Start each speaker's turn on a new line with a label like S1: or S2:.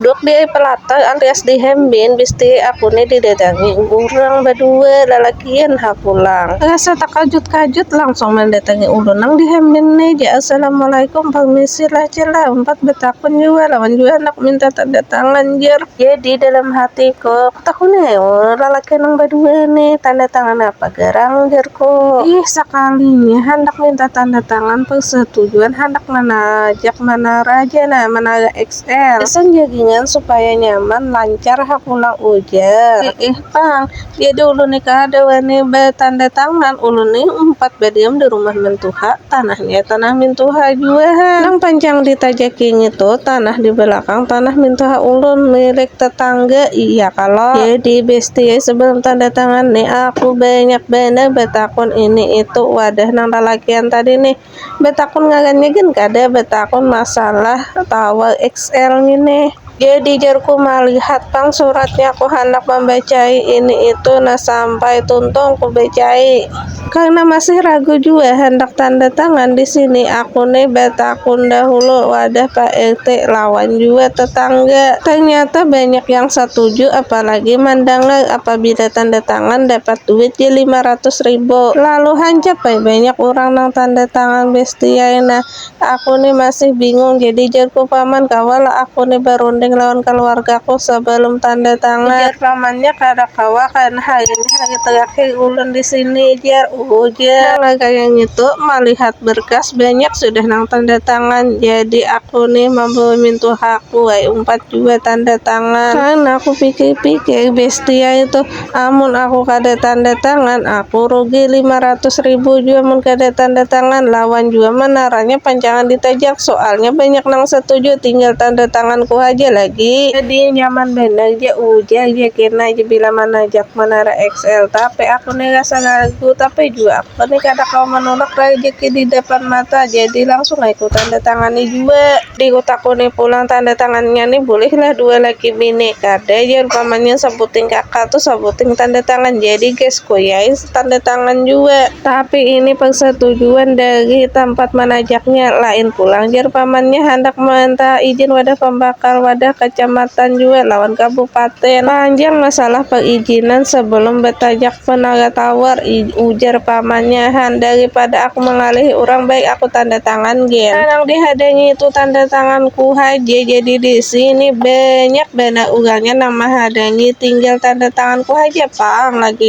S1: Duduk di pelatai alias di hembin, bisti aku ni didatangi urang badua lalakian ha pulang. Rasa takajut-kajut langsung mandatangi ulun nang di hembin ni ja, Assalamualaikum, parmisi lah jar lah, umpat batakun jua lawan jua handak minta tanda tangan jar. Jadi dalam hatiku, kutakuni ai ulun lalakian nang badua ni, tanda tangan apa garang jarku. Ih, sakalinya handak minta tanda tangan parsetujuan handak manajak manara ja nah, manara X. XL. Pesan jagingan supaya nyaman lancar ha pulang ujar. Eh, eh pang, jadi ulun ni kada wani batanda tangan, ulun ni umpat badiam di rumah mentuha, tanahnya tanah mintuha jua ha. Nang pancang ditajaki ngitu tanah di belakang tanah mintuha ulun, milik tetangga iya kalo. Jadi bestie sebelum tanda tangan ni aku banyak banar batakun ini itu wadah nang lalakian tadi nih. betakun ngagan ngagan kada betakun masalah towel XL ini jadi jarku malihat pang suratnya ku handak membacai ini itu nah sampai tuntung ku bacai karena masih ragu jua handak tanda tangan di sini aku ni betakun dahulu wadah pak RT lawan jua tetangga ternyata banyak yang setuju apalagi mandangar Pabila tanda tangan dapat duit ja lima ratus ribu. Lalu hancap ai banyak urang nang tanda tangan besti ai nah. Aku ni masih bingung jadi jarku paman kawa lah aku ni barunding lawan kaluargaku sabalum tanda tangan. Ujar pamannya kada kawa kan hai ini hari terakhir ulun di sini jar ujar. Maka kaya ngitu malihat berkas banyak sudah nang tanda tangan jadi aku ni mambawa mintuhaku ai umpat. jua tanda tangan. Kan aku pikir-pikir bestia itu amun aku kada tanda tangan aku rugi lima ratus ribu jua mun kada tanda tangan lawan jua manaranya pancangan ditajak soalnya banyak nang satuju tinggal tanda tanganku haja lagi. Jadi nyaman banar ja ujar ja kena ja bila manajak manara XL tapi aku ni rasa ragu tapi jua aku ni kada kawa manulak rajaki di dapan mata jadi langsung ai ku tanda tangani jua. Dikutakuni pulang tanda tangannya ni bulihlah dua lagi bini kada jar pamannya sabuting kaka tu sabuting tanda tangan jadi ges kuyai tanda tangan jua. Tapi ini persatujuan dari tampat manajaknya lain pulang jar pamannya handak mantaha ijin wadah pambakal wadah kacamatan jua lawan kabupaten. Panjang masalah perijinan sebelum batajak penara tawar ujar pamannya han daripada aku mangalihi urang baik aku tanda tangan. Thailand gin. Nang dihadangi itu tanda tanganku haja jadi di sini banyak banar urangnya nang mahadangi tinggal tanda tanganku haja pang lagi.